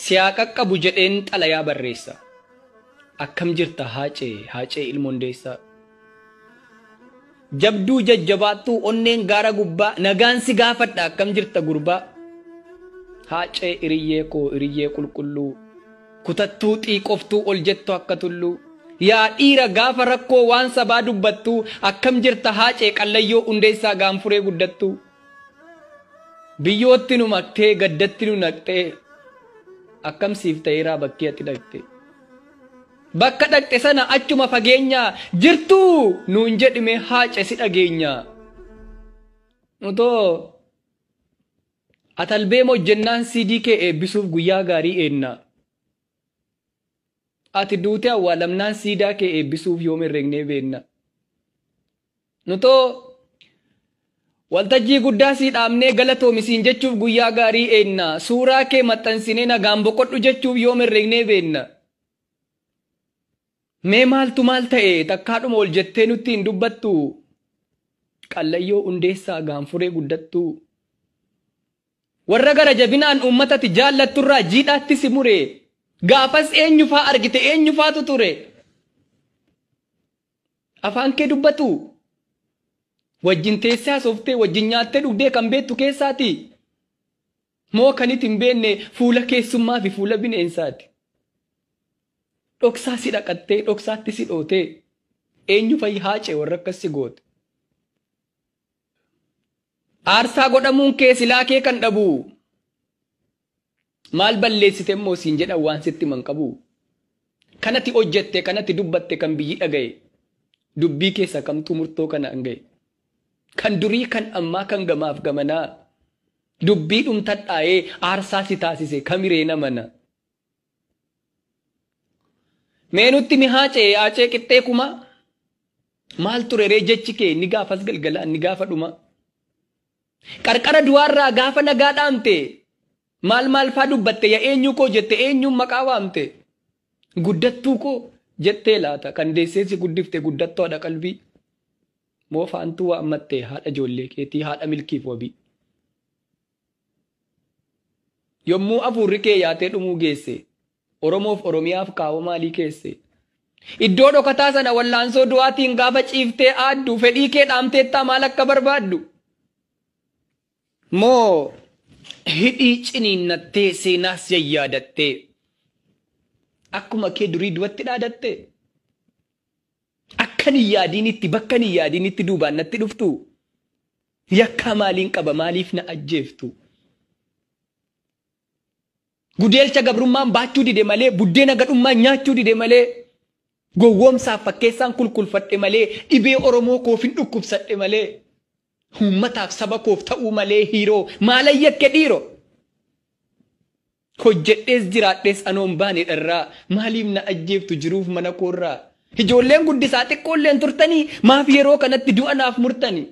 Si haa qaqqabu jedheen xalayaa barreessa. Akkam jirta haacee haacee ilmoon deessaa. Jabduu jajjabaattuu onneen gaara gubbaa nagaan si gaafadha akkam jirta gurbaa. Haacee iriyyee koo iriyyee qulqulluu kutattuu xiiqoftuu ol jettu akka tulluu. Yaa dhiira gaafa rakkoo waan sabaa dubbattuu akkam jirta haacee qallayyoo hundeessaa gaanfuree guddattuu. Biyyootti nu maktee gaddatti nu naqxee akkam siif ta'eeraa bakkee ati dhaqxe. Bakka dhaqxe sana achuma fageenyaa jirtuu nuun jedhime haace si dhageenya. Nutoo atalbee mojjennaan siidii kee eebbisuuf guyyaa gaarii eenna. Ati duutee awwaalamnaan siidaa kee eebbisuuf yoom herregnee beenna. Nutoo waltajjii guddaa sii dhaabnee galatoomi siin jechuuf guyyaa gaarii eegna. Suuraa kee maxxansinee nagaan boqodhu jechuuf yoom herregnee beekna. Mee maaltu maal ta'e takkaadhuma ol jettee nutti hin dubbattu? Qallayyoo Hundeessaa gaanfuree guddattuu. Warra gara jabinaan uummatati jaallatturraa jiidhaatti si mure. Gaafas eenyufaa argite eenyufaatu ture? Afaan kee dubbatu. Wajjin teessee hasooftee wajjin nyaattee dhugdee kan beektu keessaati. Moo kan itti hin beekne fuula keessummaa fi fuula bineensaati. Dhoksaa si dhaqattee dhoksaatti si dhootee eenyu fayyi haacee warra akkas si goote. Aarsaa godhamuun kee silaa kee kan dhabu. Maal balleessite immoo siin jedhan waan sitti himan qabu. Kan ati hojjette, kan ati dubbatte, kan biyyi dhagaye, dubbii keessa kamtuu murtoo kanaan gahe. Kan durii, kan ammaa, kan gamaaf gamanaa dubbii dhumtadhaa'ee aarsaa si taasise kamiree namana? Mee nutti mi haacee haacee qixxee kumaa maal ture ree jechi kee inni gaafas galgala inni gaafa dhumaa. Qarqara du'aarraa gaafa nagaa dhaamte maal maal faa dubbatte ya eenyuu koo jette eenyuun maqaa waamte guddattuu koo jettee laata kan deessee si guddifte guddattoo haadha qalbii moo faantuu waammatte haadha ijoollee keetii haadha milkiif wabii. Yommuu afuurri kee yaatee dhumuu geesse, Oromoof Oromiyaaf kaawoo maalii keesse? Iddoo dhokataa sana wallaansoo du'aatiin gaafa ciiftee aaddu fedhii kee dhaamteettaa maal akka barbaaddu? Moo hidhii ciniinnattee seenaas yayyaadattee akkuma kee durii du'atti dhaadatte? Akkan hin yaadiinitti bakkan hin yaadiinitti duubaan natti dhuftu? Yakkaa maaliin qaba maaliif na ajjeeftu? Gudeelcha gabrummaan baachuu dide malee buddeena gadhummaan nyaachuu dide malee gowwoomsaaf fakkeessaan kulkulfadhe malee dhibee Oromoo koofin dhukkubsadhe malee uummataaf saba koof ta'uu malee hiiroo maalan yakke dhiiro? Hojjedhees jiraadhees anoo hin baane dharraa Maaliif na ajjeeftu jiruuf mana koorraa Ijoolleen guddisaa xiqqoolleen turtanii Maaf yeroo kanatti du'a naaf murtani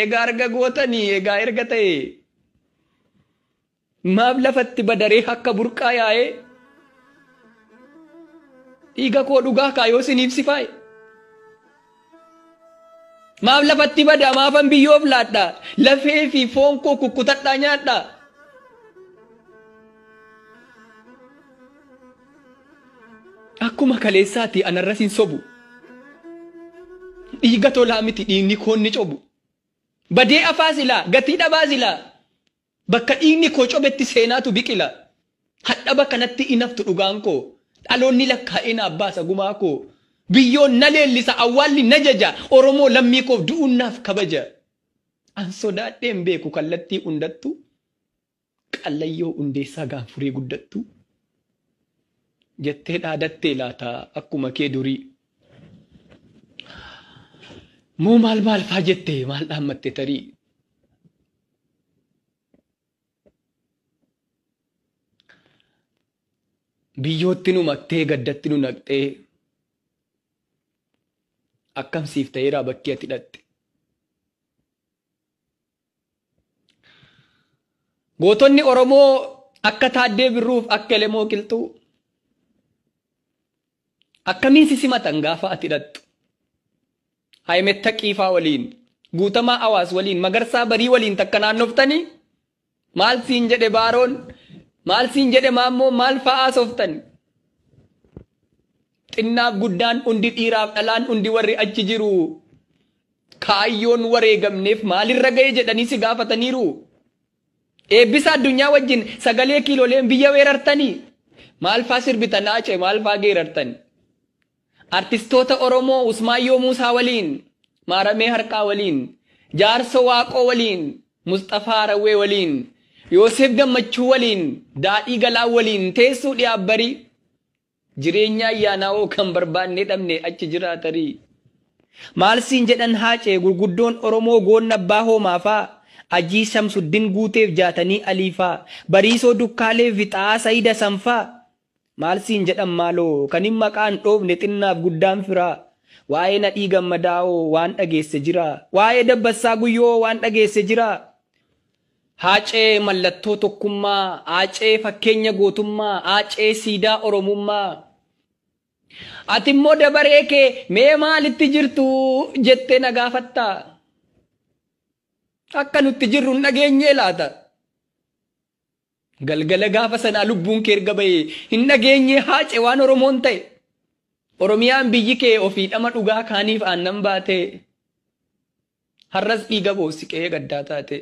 Egaa arga gootani egaa erga ta'ee Maaf lafatti badaree akka burqaa yaa'ee Dhiiga koo dhugaa kaa yoo siniif sifaa'e Maaf lafatti badaa maafan biyyoof laadha lafee fi foon koo kukkutadhaa nyaadha. Akkuma kaleessaati anarras hin sobu. Dhiiga tolaa miti dhiigni koon ni cobu. Badee afaa silaa gatii dhabaa silaa. Bakka dhiigni koo cobetti seenaatu biqila. Hadhaba kanatti in haftu dhugaan koo. Dhaloonni lakkaa'ee naaf baasa gumaa koo. Biyyoon na leellisa awwaalli na jaja. Oromoo lammii koof du'uun naaf kabaja. An sodaadhee hin beeku kallattii hundattuu. Qallayyoo hundeessaa gaanfuree guddattuu. Jettee dhaadattee laata akkuma kee durii. Moo maal maal faa jette maal dhaammatte tarii. Biyyootti nu maktee gaddatti nu naqxee akkam siif ta'eeraa bakki ati dhaqxe. Gootonni Oromoo akka Taaddee Birruuf akka Elemoo Qilxuu Akkamiin si simatan gaafa ati dhaqxu? Ahimed Taqiifaa waliin, Guutamaa Awaas waliin, Magarsaa Barii waliin takka naannoftanii? Maal siin jedhe Baaroon? Maal siin jedhe Maammoon? Maal fa'aa haasoftan? Xinnaaf guddaan hundi dhiiraaf dhalaan hundi warri achi jiru kaayyoon wareegamneef maalirra ga'e jedhanii si gaafataniiru? Eebbisa Addunyaa wajjin sagalee kiiloleen biyya weerartanii? Maalfaa sirbitan Haace maalfaa geerartani? Artistoota Oromoo Usmaayyoo Muusaa waliin, Maaramee Harqaa waliin, Jaarsoo Waaqoo waliin, Musxafaa Harawwee waliin, Yooseef Gammachuu waliin, Daadhii Galaan waliin teessuu dhiyaaf barii? Jireenya ayyaanaawoo kan barbaadne dhabne achi jiraa tarii. Maal siin jedhan Haacee gurguddoon Oromoo Goonna Abbaa Hoomaa faa, Ajii Shamsuddin Guuteef Jaatanii Alii faa, Bariisoo Dukkaalee fi Xa'aa Sayid Hasan faa? Maal siin jedhan maaloo? Kanin maqaa hin dhoofne xinnaaf guddaan firaa. Waa'ee Nadhii Gammadaawoo waan dhageesse jiraa? Waa'ee Dabbassaa Guyyoowoo waan dhageesse jiraa? Haacee mallattoo tokkummaa, Haacee fakkeenya gootummaa, Haacee siidaa Oromummaa. Ati immoo dabaree kee mee maalitti jirtu jettee na gaafatta? Akka nutti jirru hin dhageenyee laata? Galgala gaafa sanaa lubbuun kee erga ba'e hin dhageenyee haace waan Oromoon ta'e. Oromiyaan biyyi kee ofii dhama dhugaa kaaniif aannan baatee. Har'as dhiiga boossi qe'ee gaddaa taatee.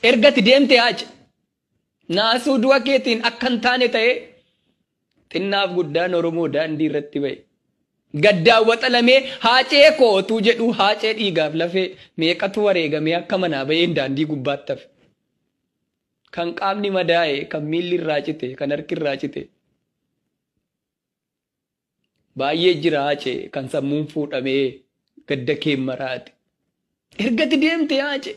Erga ati deemtee Haace. Naasuu du'a keetiin akka hin taane ta'ee. Xinnaaf guddaan Oromoo daandii irratti ba'e. Gaddaan waxalamee Haacee koo otuu jedhuu Haacee dhiigaaf lafee meeqatu wareegamee akka manaa ba'een daandii gubbaatti hafe. Kan qaamni madaa'e, kan miilli irraa cite, kan harki irraa cite. Baay'ee jira Haacee kan sammuun fuudhamee gadda keen maraate. Erga ati deemtee Haacee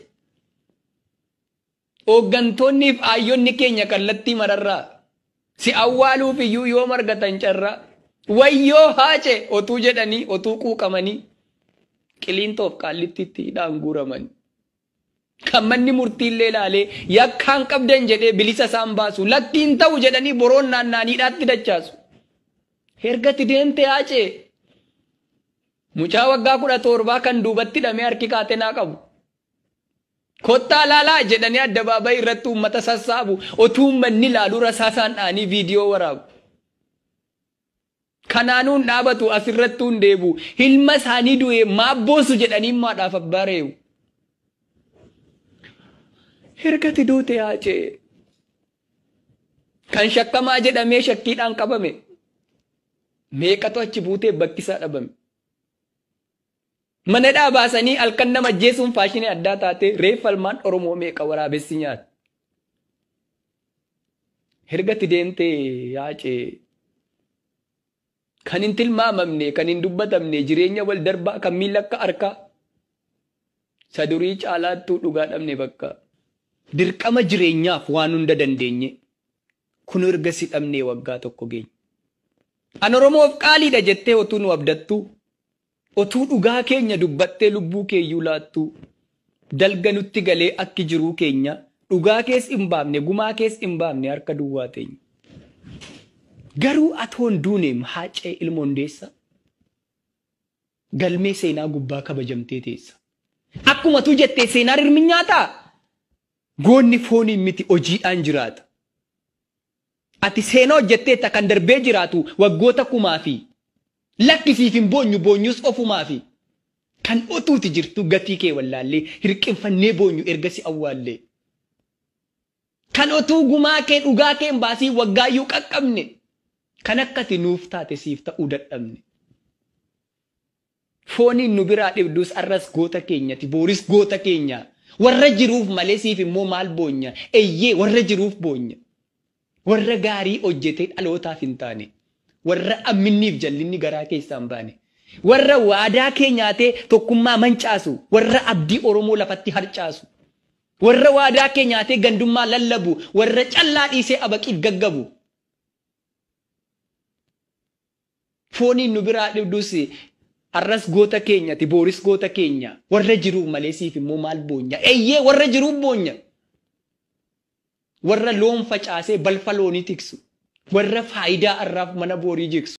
hooggantoonniif aayyonni keenya kallattii mararraa si awwaaluuf iyyuu yoo margatan carraa wayyoo Haacee otuu jedhanii otuu quuqamanii qiliintoof qaallittiitti hidhaan guuramanii. Kan manni murtii illee ilaalee yakkaan qabdan jedhee bilisa isaan baasu lakki hin ta'u jedhanii boroon naanna'an hidhaatti dachaasu. Ergati deemte haacee mucaa waggaa kudha torbaa kan duubatti hidhamee harki kaatenaa qabu. Kottaa laalaa jedhanii addabaabayii irratti uummata sassaabu otuu uummanni ilaaluu rasaasaan dha'anii viidiyoo waraabu. Kanaanuu hin dhaabatu, as irrattuu hin deebi'u. Ilma isaanii du'e maaf boosu jedhanii maadhaaf abbaa ree'u. Ergati duute haacee. Kan shakkamaa jedhamee shakkiidhaan qabame. Meeqatu achi buutee bakkisaa dhabame. Manadhaa baasanii halkan nama ajjeesuun faashinii addaa taatee reeffa ilmaan Oromoo meeqa waraabessi nyaate. Ergatti deemtee yaacee kan hin tilmaamamne kan hin dubbatamne jireenya wal darbaa kan miila akka harkaa isa durii caalaattuu dhugaa dhabne bakka. Dirqama jireenyaaf waan hunda dandeenye kun erga si dhabnee waggaa tokko geenye. An Oromoof qaaliidha jettee otuu nu abdattuu Otuu dhugaa keenya dubbattee lubbuu keeyyuu laattuu dalga nutti galee akki jiruu keenyaa dhugaa kees in baafne gumaa kees in baafne harka duwwaa teenya. Garuu atoo hin duuneem Haaccee ilma Hundeessaa galmee seenaa gubbaa kabajamtee teessa. Akkuma atuu jettee seenaa rirminyaataa goonni fooniin miti hojiidhaan jiraata. Ati seenaa hojjetteetta kan darbee jiraatu waggoota kumaafi. Lakki siif hin boonyu boonyus ofumaafi. Kan otuuti jirtuu gatii kee wallaallee hirqinfannee boonyu erga si awwaallee. Kan otuu gumaa kee dhugaa kee hin baasiin waggaayyuu qaqqabne. Kan akka ati nuuf taate siif ta'uu dadhabne. Fooniin nu biraa dhibdus arras goota keenyati booris goota keenya Warra jiruuf malee siif immoo maal boonya Eyyee warra jiruuf boonya Warra gaarii hojjetee dhalootaaf hin taane Warra amminniif jallinni garaa keessaa hin baane Warra waadaa kee nyaatee tokkummaa mancaasu Warra abdii Oromoo lafatti harcaasu Warra waadaa kee nyaatee gandummaa lallabu Warra callaa dhiisee abaqiif gaggabu Fooniin nu biraa dhibdus Har'as goota keenya ati booris goota keenya Warra jiruuf malee siif immoo maal boonya Eyyee warra jiruuf boonya Warra loon facaasee balfa loonii tiksu Warra faayidaa har'aaf mana boorii jigsu.